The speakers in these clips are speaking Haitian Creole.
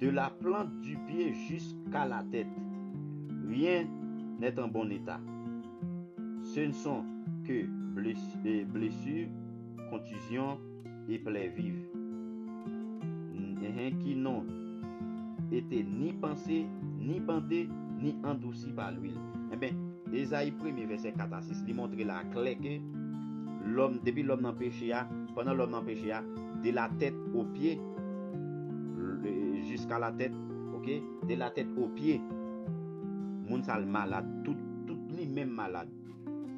De la plante du pye jis ka la tèt, ryen nèt an bon eta. Se n son ke blesu, kontizyon e plè viv. N-hen ki non ete ni panse, ni bande, ni andousi pa lwil. Enben, Ezayi premye vèsè 4 a 6, li montre la klè ke lòm, depi lòm nan peche a, pandan lòm nan peche a, de la tèt o pye, jiska la tèt ok de la tèt o pye moun sa l malad tout tout li menm malad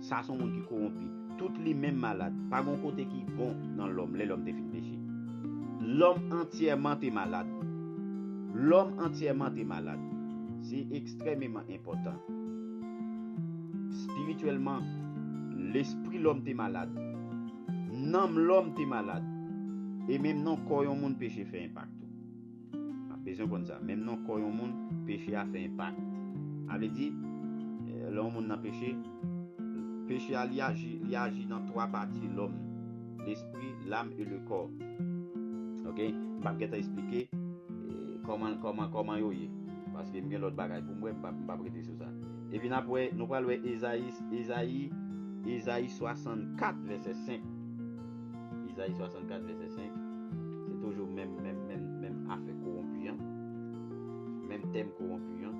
sa son moun ki kowonpi tout li menm malad pa gon kote ki bon nan lòm lè lòm te fin peche lòm antyèman te malad lòm antyèman te malad se ekstrèmeman enpòtan espirityèlman lespri lòm te malad. Nanm lòm te malad. E menm nan kò yon moun peche fè enpak tou. N ap bezwen konn sa. Menm nan kò yon moun, peche a fè enpak. Sa vle di, lè yon moun nan peche, peche a li aji, li aji nan twa pati lòm, lespri, lam e lekò. Ok, m p ap gentan esplike kòman, kòman, kòman yo ye. Paske m gen lòt bagay pou m wè, m p ap, m p ap rete sou sa. Epi n ap wè, nou pral wè Ezayi, Ezayi, Ezayi 64 vèsè 5. Ezayi 64 vèsè 5. Se toujou menm, menm, menm, menm afè kowonpi an. Menm tèm kowonpi an.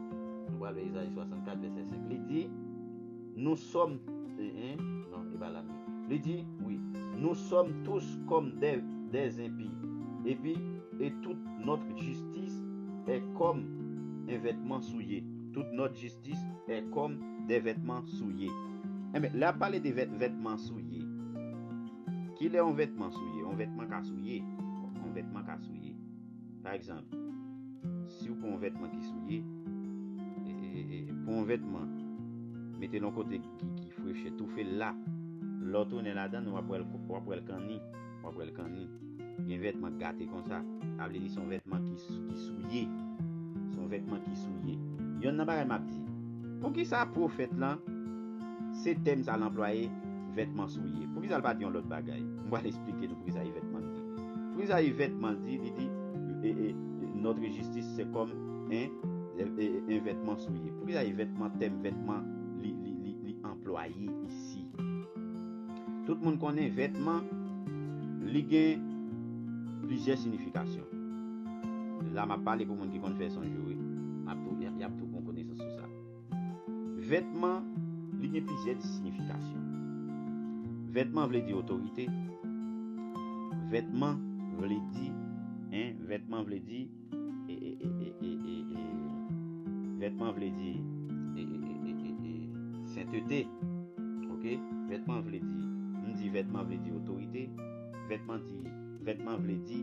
Nou pral wè Ezayi 64 vèsè 5. Li di, Nou sòm, e, e, non, e pa la menm. Li di, wi, Nou sòm tous kòm dè, dè enpi. Epi, e tout nòt jistis è kòm en vètman souye. Tout nòt jistis è kòm dè vètman souye. Enben, lè ap pale de vèt, vètman souye. Ki lè yon vètman souye? Yon vètman ka souye. Yon vètman ka souye. Pa egzanp, si ou pran yon vètman ki souye, e, e, e, e, pran yon vètman, mete l yon kote ki, ki frechè, toufe l la, lè ou tounen ladan l, w ap wè l, w ap wè l kanni. Wap wèl kanni gen vètman k gate konsa. Sa vle di son vètman ki souye. Son vètman ki souye. Yonn nan bagay map di. Poukisa pwofèt lan se tèm sa l anplwaye vètman souye. Poukisa l pa di yon lòt bagay. M pral esplike nou poukisa Yvètman di. Poukisa Yvètman di li di notre justice c'est comme un vêtement souillé. Poukisa Yvètman tèm vètman li anplwaye isi. Ayiti. Tout moun konnen vètman, li gen plizyè sinifikasyon. La m ap pale pou moun ki konn fè sonj yo wi, y ap tou pran konesans sou sa. Vètman, li gen plizyè sinifikasyon. Vètman vle di otorite. Vètman vle di, vètman vle di. Vètman vle di sentete ok vètman vle di m di vètman vle di otorite vètman di vètman vle di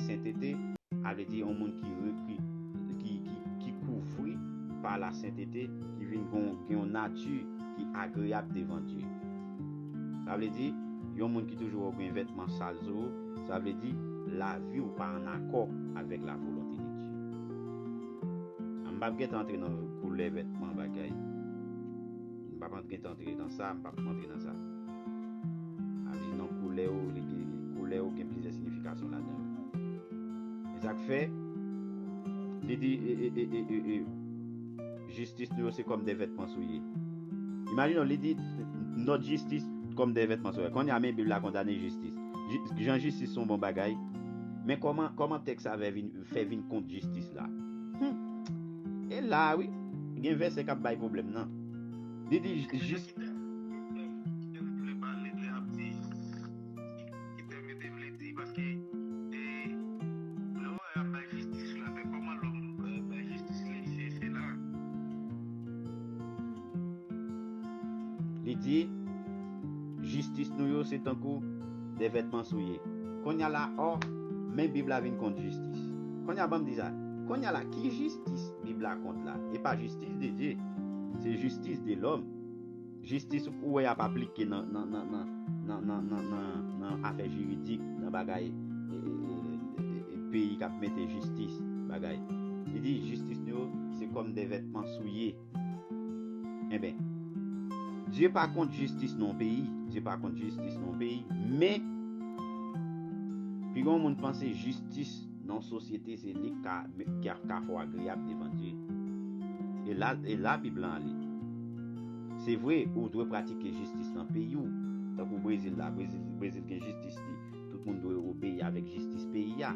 sentete a vle di yon moun ki revni ki kouvri pa la sentete ki vin gon gen yon nati ki agreyab devan Dye sa vle di yon moun ki toujou wè w gen vètman sal sou ou. Sa vle di, lavi ou pa an akò avèk la volonte de Dye. A m pap gentan antre nan koulè vètman bagay. M pap an gentan antre nan sa, m pap antre nan sa. A vle di nan koulè ou, li gen koulè ou gen plizyè signifikasyon ladan yo. Men sa k fè, li di e e e e e e. jistis nou yo se kòm de vètman souye. Imajine w, li di, Nòt jistis kòm de vètman souye. Kounye a, men Bib la kondane jistis. Jan jistis se yon bon bagay, men kòman tèks sa a fè vin kont jistis la? Hum! E la a wi, gen vèsè k ap bay pwoblèm nan. Li di, Jistis. Ki tèm yo te vle di paske e lè ou wè yap bay jistis ou lapè kòman lòm bay jistis li se se la. Li di jistis nou yo se tankou de vètman souye konnya la ò men bib la vin kont jistis konnya banm di sa konnya la ki jistis bib la kont la e pa jistis de Dye se jistis de lòm. Jistis ou wè ap aplike nan afè jiridik, nan bagay peyi kap mete jistis bagay. Li di jistis nou yo se kòm de vètman souye. Enben, Dye pa kont jistis nan yon peyi, Dye pa kont jistis nan yon peyi, men pi gen yon moun panse jistis. Non sosyete se li k ka fè w agreyab devan Dye. E la, e la Bib lan ale. Se vre, ou dwe pratike jistis nan peyi w. Tankou Brezil la, Brezil, Brezil gen jistis li. Tout moun dwe obeyi avèk jistis peyi a.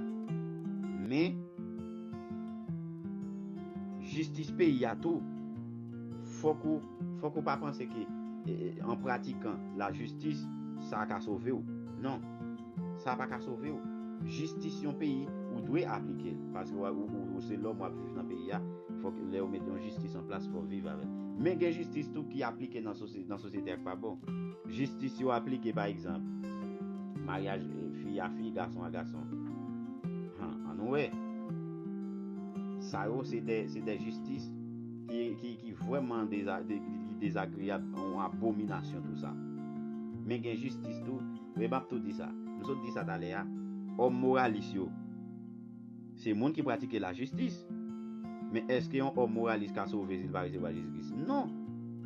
Men, jistis peyi a tou, fòk ou, fòk ou pa panse ke, an pratikan lajistis, sa ka sove w. Non. sa paka sovew jistis yon peyi ou dwe aplikel paske ou se lòm wap viv nan peyi a fòk lèw met yon jistis anplas fòw viv avèl men gen jistis tou ki aplike nan sosyete ak pa bon jistis yo aplike pa egzanp maryaj fi a fi gason a gason han annou wè sa yo se de jistis ki vwèman dezagriyab yon abominasyon tou sa men gen jistis tou Men map tou di sa, m sot di sa talè a, òm moralis yo se moun ki pratike lajistis. Men èske yon òm moralis ka sove si l pa resevwa Jezi Kris? Non!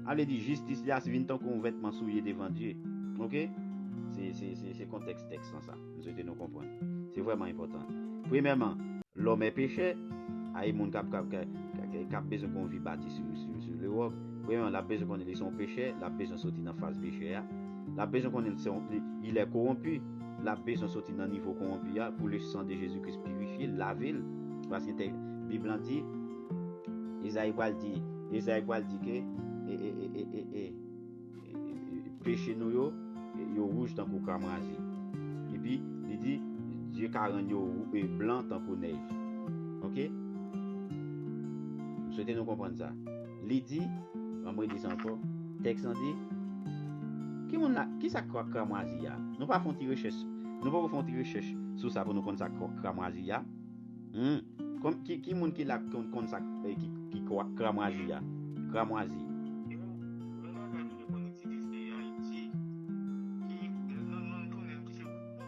Sa vle di jistis li a vin tankou yon vètman souye devan Dye. Ok? Se kontèks tèks lan sa. M swete nou konprann. Se vrèman enpòtan. Premyèman, lòm è pechè. A e moun k ap bezwen gen yon vi bati sou lewòm. Premyèman, l ap bezwen konnen li se yon pechè, l ap bezwen soti nan faz pechè a. l ap bezwen konnen li lè kowonpi, l ap bezwen soti nan nivo kowonpi a pou le san de Jezi Kris pirifye l, lave l. Paske tè Bib lan di, Ezayi pral di, Ezayi pral di ke e peche nou yo, yo wouj tankou kramrazi. Epi, li di, Dye ka rann yo blan tankou nèj. Ok? M swete nou konprann sa. Li di, an m redi sa ankò, tèks lan di, Ki moun la, ki sa k kramwazi a? Nou pa fè yon ti rechèch, nou poko fè yon ti rechèch sou sa pou nou konn sa k kramwazi a? Hum! Kon, ki, ki moun ki la k konn sa k, ki, ki k kramwazi a? Kramwazi. Yon bagay nou te konn itilize Ayiti, ki, nou, nou, nou konnen l ki se woukwouk.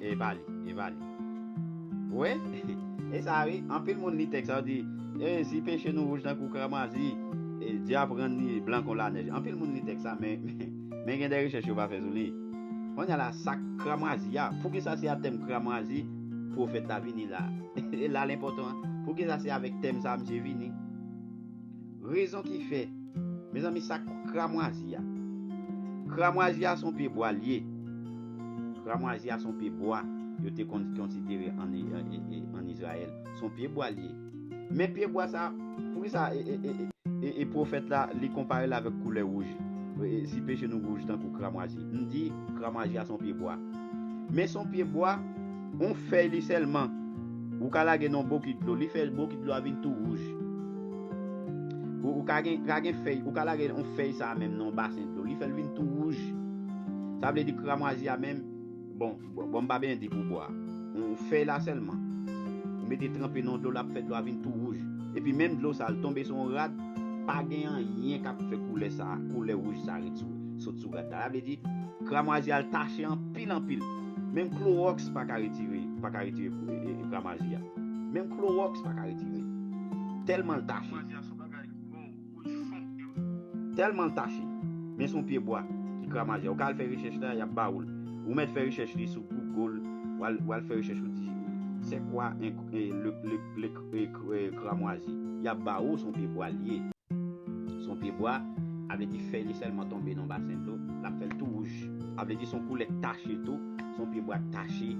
E pa li, e pa li. Wè, e sa wi, anpil moun li tèks sa yo di, e si peche nou wouj tankou kramwazi, e Dye ap rann li blan kon lanèj. Anpil moun li tèks sa, men, men gen de rechèch yo pa fè sou li. Konnya la, sa k kramwazi a? Poukisa se a tèm kramwazi pwofèt la vini la? E la l enpòtan an, poukisa se avèk tèm sa a misye vini? Rezon ki fè. Mezanmi sak kramwazi a. Kramwazi a son pye bwa liye. Kramwazi a son pye bwa yo te konn konsidere an Izrayèl. Son pye bwa liye. Men pye bwa sa poukisa e pwofèt la li konpare l avèk koulè wouj. Si peche nou wouj tankou kramwazi. M di kramwazi a son pye bwa. Men son pye bwa. On fèy li sèlman ou ka lage nan on bokit dlo li fè bokit dlo a vin tou wouj. Ou ka gen ka gen fèy ou ka lage on fèy sa a menm nan on basen dlo li fè l vin tou wouj. Sa vle di kramwazi a menm bon bon m pa byen di pou bwa. On fèy la sèlman ou mete tranpe nan dlo l ap fè dlo a vin tou wouj. Epi menm dlo sa a l tonbe sou on rad pa gen anyen k ap fè koulè sa a koulè wouj sa a ret sou sot sou rad la. Sa vle di kramwazi a l tache anpil anpil. Menm klorox pa ka retire ekran maji a. Menm klorox pa ka retire. Telman l tache. Ekran maji a son bagay ki bon pou li fon e wi. Telman l tache. Men son pye bwa ki kran maji a. Ou ka al fè rechèch la, y ap ba ou l. Ou mèt fè rechèch li sou Google. W al fè rechèch ou di se kwa le. kramwazi yap ba ou son pyebwa l ye. Son pyebwa, a vle di fèy li sèlman tonbe nan basen dlo, lap fè l tou wouj. A vle di son koulè k tache tou, son pyebwa k tache,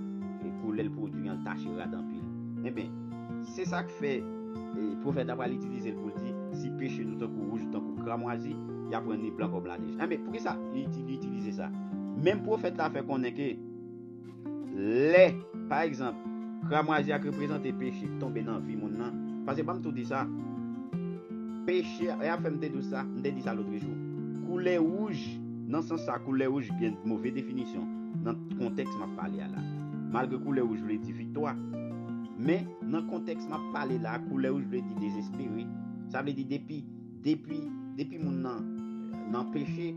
koulè l pwodui an tache rad anpil. Enben, se sa k fè pwofèt la pral itilize l pou l di, si peche nou tankou wouj, tankou kramwazi, yap rann li blan kòm lanèj. Enben, poukisa li itilize sa? Menm pwofèt la fè konnen ke. Lè, pa egzanp, kramwazi a k reprezante peche k tonbe nan vi moun nan, paske banm tou di sa, peche a, e ap fè m te dou sa, m te di sa lotrejou, koulè wouj, nan sans sa koulè wouj gen move definisyon nan kontèks m ap pale a la, malgre koulè wouj vle di viktwa, men, nan kontèks m ap pale la a, koulè wouj vle di dezespere, sa vle di depi. Depi depi moun nan nan peche,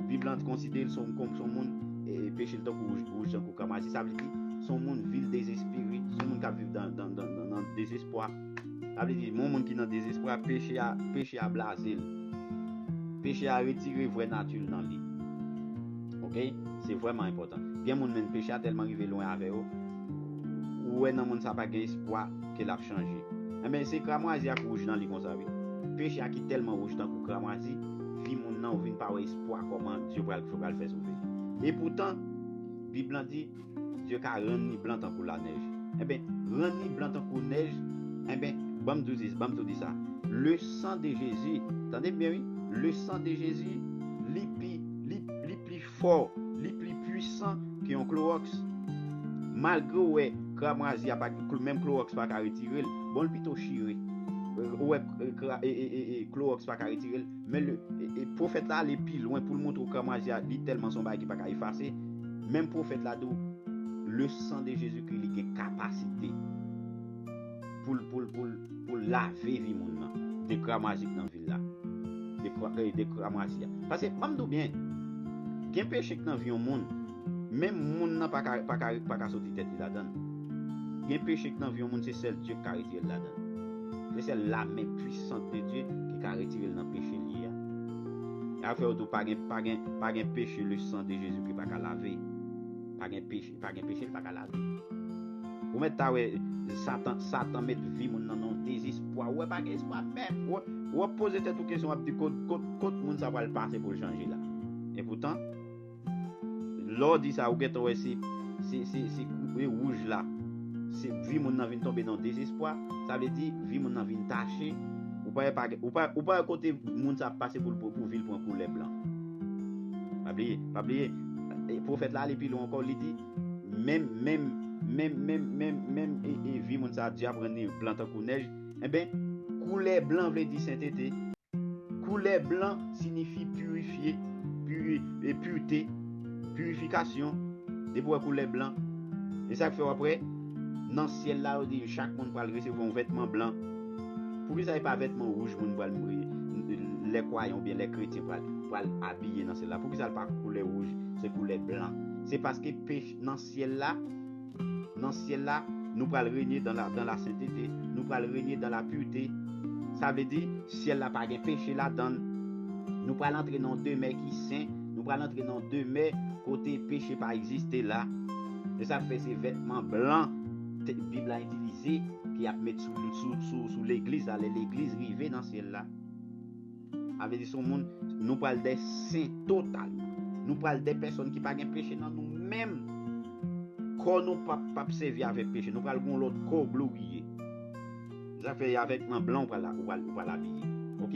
Bib lan konsidere l son kon son moun e peche l tankou wouj wouj tankou kamasi. Sa vle di son moun vil dezespere, son moun k ap viv dan dan dan nan dezespwa. Sa vle di yon moun ki nan dezespwa peche a peche a blaze l. Peche a retire vrè nati l nan li. Ok, se vrèman enpòtan. Gen moun menn peche a tèlman rive lwen avè yo, Ou wè nan moun sa pa gen espwa ke lap chanje. Enben se kramwazi ak wouj nan li konsa wi. Peche a ki tèlman wouj tankou kramwazi, vi moun nan ou vin pa wè espwa kòman Dye pral yo pral fè sove li. E poutan Bib lan di Dye ka rann ni blan tankou lanèj. Enben rann ni blan tankou nèj enben banm di w banm tou di sa le san de Jezi tande m byen wi le san de Jezi li pi li li pli fò, li pli pwisan ke yon klorox. Malgre ou wè krab razye a pa gen, menm klorox pa ka retire l, bon l pito chire. Ou wè klorox pa ka retire l, men le Pwofèt la ale pi lwen pou l montre ou krab razye a li tèlman se yon bagay ki pa ka efase, menm Pwofèt la di ou le san de Jezikri li gen kapasite. poul poul poul poul lave vi moun nan de kramoizik nan vil la de kramoizi ya paske banm diw byen gen peche ki nan vi yon moun menm moun nan paka paka paka soti tèt li ladann gen peche ki nan vi yon moun se sèl Dye ki ka retirel ladann se sèl la men pwisant de Dye ki ka retirel nan peche li ye ya yap fèw diw pa gen pa gen pa gen peche le san de Jezikri paka lave pa gen peche. Li pa gen peche li paka lave. Ou mèt ta wè satan satan met vi moun nan nan dezespwa ou wè pa gen espwa menm ou ap poze tèt ou kesyon wap di kot kot kot moun sa pral pase poul chanje la epoutan lèw di sa ou gentan wè se se se se koupe wouj la se vi moun nan vin tonbe nan dezespwa sa vle di vi moun nan vin tache ou pa wè pa gen ou pa wè kote moun sa ap pase poul pou vil pran koulè blan Pa bliye, pa bliye, pwofèt la ale pi lwen ankò, li di, Menm, menm, menm, menm, menm, menm e, e vi moun sa a djab rann li blan tankou nèj. Enben, koulè blan vle di sentete. Koulè blan sinifi pirifye, puri, e purte, purifikasyon. Depi ou wè koulè blan, e sa k fè w ap wè, nan syèl la, yo di chak moun pral resevwa yon vètman blan. Poukisa e pa vètman wouj moun pral lè kwayan oubyen lè kretyen pral abiye nan syèl la? Poukisa l pa koulè wouj, se koulè blan? Se paske nan syèl la, nan syèl la, nou pral renye dan la dan la sentete, nou pral renye dan la purte. Sa vle di, syèl la pa gen peche ladan l. Nou pral antre nan yon demè ki sen, nou pral antre nan yon demè kote peche pa egziste la. Se sa k fè se vètman blan. Bib la itilize ke y ap met sou legliz la lè legliz rive nan syèl la. Sa vle di se yon moun, nou pral dè sen totalman. Nou pral dè pèsòn ki pa gen peche nan nou menm. Kò nou pap sèvi avèk peche. Nou pral gen yon lòt kò gloriye. Zafè ya vèt man blan ou pral abiye ok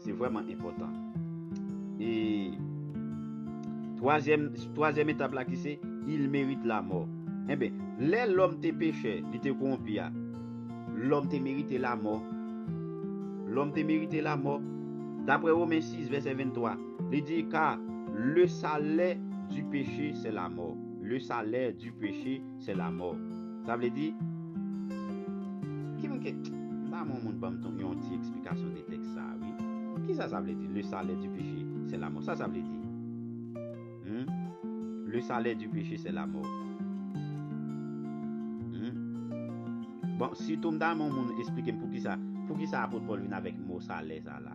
se vrèman enpòtan e twazyèm twazyèm etap la ki se il merite la mò enben lè lòm te pechè li te kowonpi ya lòm te merite la mò lòm te merite la mò daprè women 6 vèsè 23 li di ka le salè di peche se la mò le salè di peche se lamò. Sa vle di, ki moun ke, m ta renmen yon moun banm ton yon ti eksplikasyon de tèks sa a wi. Kisa sa vle di le salè di peche se lamò? Sa sa vle di? Hum? Le salè di peche se lamò. Hum? Bon, sitou m ta renmen yon moun esplike m poukisa, poukisa apot Pòl vin avèk mo salè sa la?